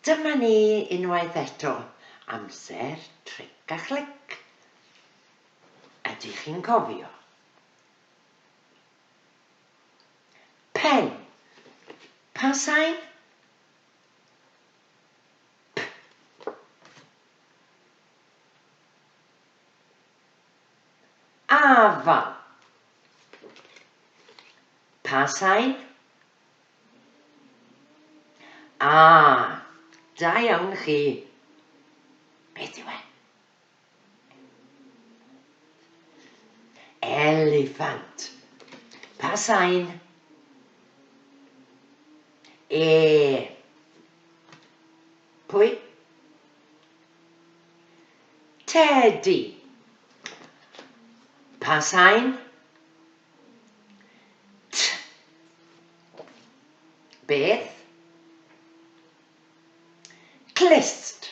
Dyma ni unwaith eto, amser tric a chlic. Ydych chi'n cofio? Pen. Pa sain? Afal. Pa sain? A, da iawn chi. Beth yw e? Eliffant. Pa sain? E. Pwy? Tedi. Pa sain? T. Beth? Clust.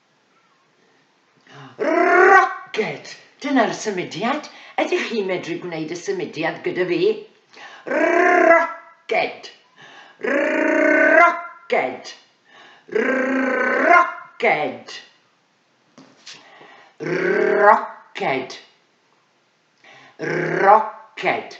Rocket! Dyna'r symudiad. Ydych chi'n medru gwneud y symudiad gyda fi? Rocket! Rocket! Rocket! Rocket! Rocket!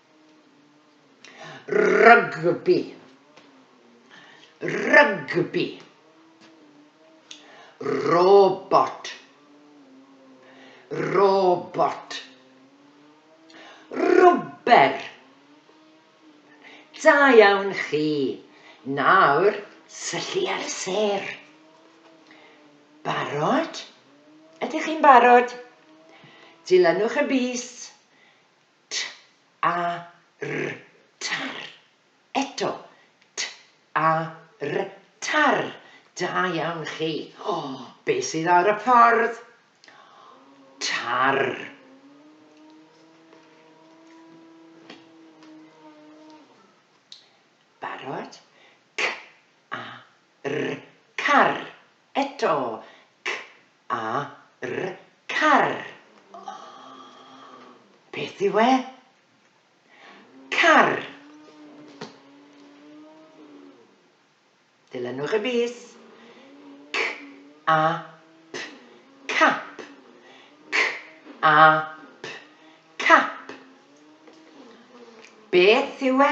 Rygbi Rygbi Robot Robot Rwber Da iawn chi! Nawr, syllu ar y sêr. Barod? Ydych chi'n barod? Dilynwch y bys. T-a-r-r, tar. Eto, T-a-r-r, tar. Da iawn chi. O, be sydd ar y ffordd? Tar. Barod? C-a-r-r, car. Eto, c, a, r, car. Beth yw e? Car. Dilynwch y bys. C, a, p, cap. C, a, p, cap. Beth yw e?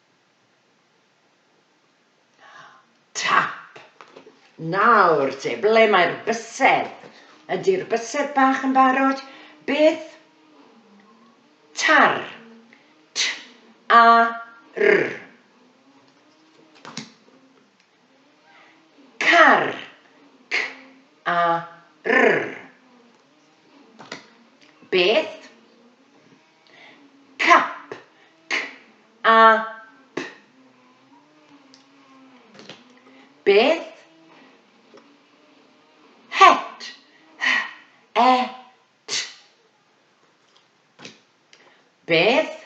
Tap! Nawr te, ble mae'r bysedd? Ydi'r bysedd bach yn barod? Beth? Tar. T, a, r. Car. C, a, r. Beth? Cap, c, a, p. Beth? Het, h, e, t. Beth?